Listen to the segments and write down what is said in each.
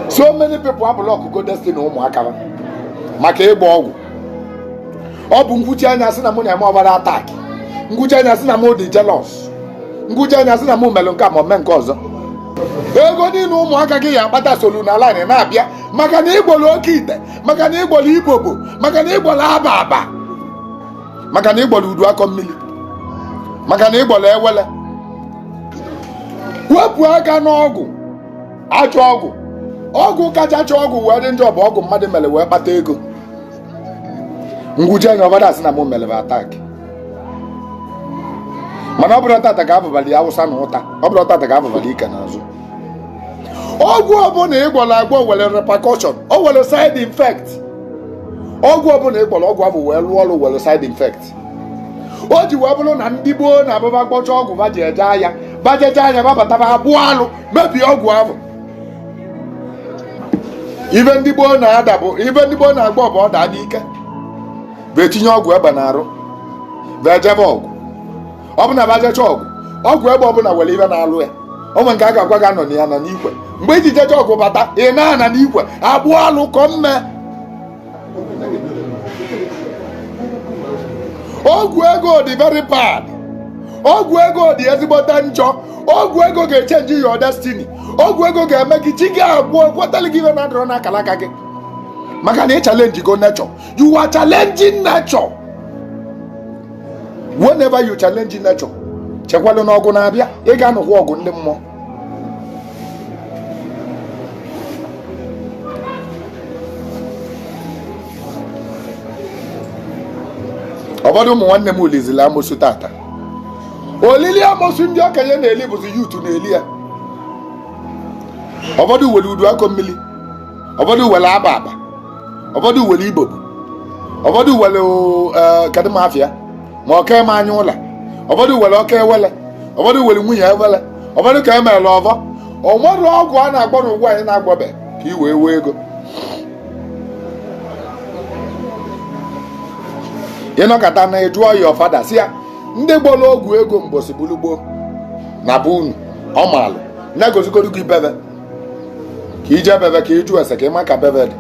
so many people ablọkụgo destiny ụmụaka maka ịgba ọgwụ ọ bụ m kwuchaa nya a sị na mụ na-eme ọbara attack m kwuchaa nya a sị na mụ dị jealous m kwuchaa nya a sị na mụ melụ nke a ma mee nke ọzọ ego niile ụmụaka gị ya akpata solu na line na-abịa maka na ị gbọrọ oke ite maka na ị gbọrọ ibobo maka na ị gbọrọ aba aba maka na ị gbọrọ udu akọ mmiri maka na ị gbọrọ ewele wepụ aka n'ọgwụ ajọ ọgwụ ọgwụ kacha ajọ ọgwụ wee dị njọ bụ ọgwụ mmadụ mere wee kpata ego m kwuchaa nya ụfọdụ asị na m mere ba attack mana ọ bụrọ tata ka a fụbalụ awụsa na ụta ọ bụrọ tata ka a fụbalụ ike n'azụ ọgwụ ọbụla ị gwọrọ agwọ were repercussion o were side effect ọgwụ ọbụla ị gwọrọ ọgwụ ahụ wee lụọ ọrụ were side effect o ji wee bụrụ na ndị gboo na-abụ ba gbọcha ọgwụ ba ji eje aya ba jechaa aya ba bata ba akpụọ alụ mebie ọgwụ ahụ ife ndị gboo na-ada bụ ife ndị gboo na-agbọ bụ ọ daa n'ike bụ etinye ọgwụ egbe n'arụ bụ ejebe ọgụ ọ bụ na ba jecha ọgụ ọgwụ egbe ọbụla were ife na-alụ ya o nwe nke a ga-agwa gị anọna ya n'ikwe mgbe i ji jecha ọgụ bata ị na-anọ n'ikwe akpụ alụ ka ọ mme ọgwụ ego dị very bad ọgwụ ego dị ezigbote njọ ọgwụ ego ga-echenji your destiny ọgwụ ego ga-eme gị chi gị agwụ kwetara gị ife na-adịrọ n'akara aka gị maka na ị challenge go nature you are challenging nature whenever you challenge nature chekwalụ na ọgụ na-abịa ị ga-anụkwa ọgụ ndị mmụọ ụfọdụ ụmụ nwanne m elizila amosu tata olili amosu ndị okenye na-eli bụzi youth na-eli ya ụfọdụ were udu akọ mmiri ụfọdụ were aba aba ụfọdụ were ibobo ụfọdụ were eh, kadịmafịa ma ọka eme anya ụla ụfọdụ were oke ewele ụfọdụ were nwunye ewele ụfọdụ ka emeela ọvọ o nwere ọgwụ a na-agbọ n'ụwa anyị na-agwọbe ka i wee wee ego ị nọkata na ị jụọ ya ụfọdụ sị ya ndị gbọrọ ọgwụ ego mbọsị bụrụ gboo na be unu ọ maalụ na-egosigoro gị be be ka i je be be ka ị jụ ese ka ị ma ka be be dị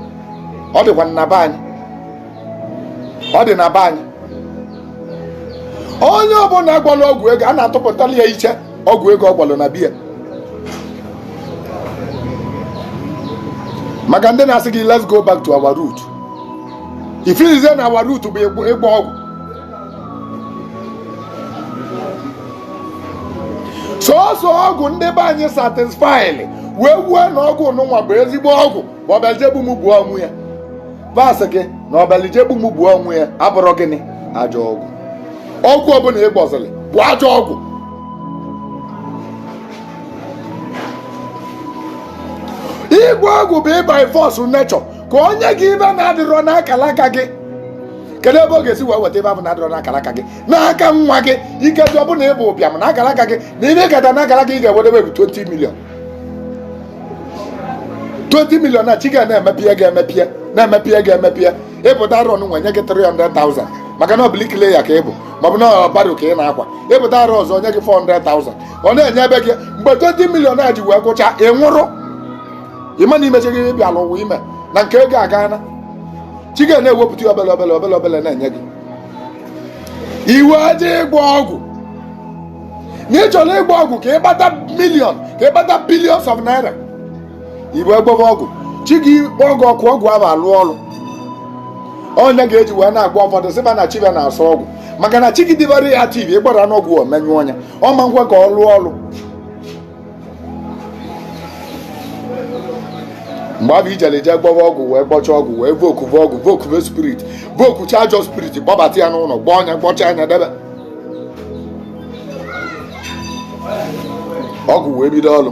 ọ dịkwa na be anyị ọ dị na be anyị onye ọbụla gwọlụ ọgwụ ego a na-atụpụtala ya iche ọgwụ ego ọ gwọlụ na be ya maka ndị na-asị gị let's go back to our root ị feelizie na our root bụ ịgbọ ọgwụ sọsọ ọgwụ ndị be anyị certifyịlị wee kwuo na ọgwụ nụnwa bụ ezigbo ọgwụ bụ ọ bịa ije egbu m gbuo onwe ya va sị gị na ọ bịalị ije egbu m gbuo onwe ya abụrọ gịnị ajọ ọgwụ ọgwụ ọbụla ị gbọzịrị bụ ajọ ọgwụ ịgbọ ọgwụ bụ ịba force nature ka o nye gị ive na-adịrọ n'akala aka gị kedu ebe ọ ga-esi wee weta ive avụ na-adịrọ n'akala aka gị n'aka nwa gị ike dị ọ bụlụ na ị bụ ụbịam n'akala aka gị na ive kata n'akala gị ị ga-enwedebe bụ 20 million 20 million na chi gị na-emepie ga-emepie na-emepie ga-emepie ị pụta arọ nwa o nye gị 300,000 maka na ọ bụ bricklayer ka ị bụ maọbụ na ọ bụ barrow ka ị na-akwa ị pụta arọ ọzọ o nye gị 400,000 ọ na-enyebe gị mgbe 20 million a ji wee gwụcha ị nwụrụ ị ma na i mechago ive ị bịala ụwa ime na nke ego aga na chi gị na-ewepụta obele obele obele obele na-enye gị i wee je ịgbọ ọgwụ na ị chọrọ ịgbọ ọgwụ ka ị kpata million ka ị kpata billions of naira i wee gbọva ọgwụ chi gị ekweghị ka ọgwụ ahụ lụọ ọlụ ọ nya ka e ji wee na-akpọ ụfọdụ sị va na chi ve na-asọ ọgwụ maka na chi gị dị very active ị gbọrọ n'ọgwụ o menyụọ nya ọ ma nkwe ka ọ lụọ ọlụ mgbe avụ i jelị je gbọva ọgwụ wee gbọcha ọgwụ wee vokuve ọgwụ vokuve spirit vokucha ajọ spirit kpọbata ya n'ụnọ gbọọ nya gbọcha nya debe ọgwụ wee bido ọlụ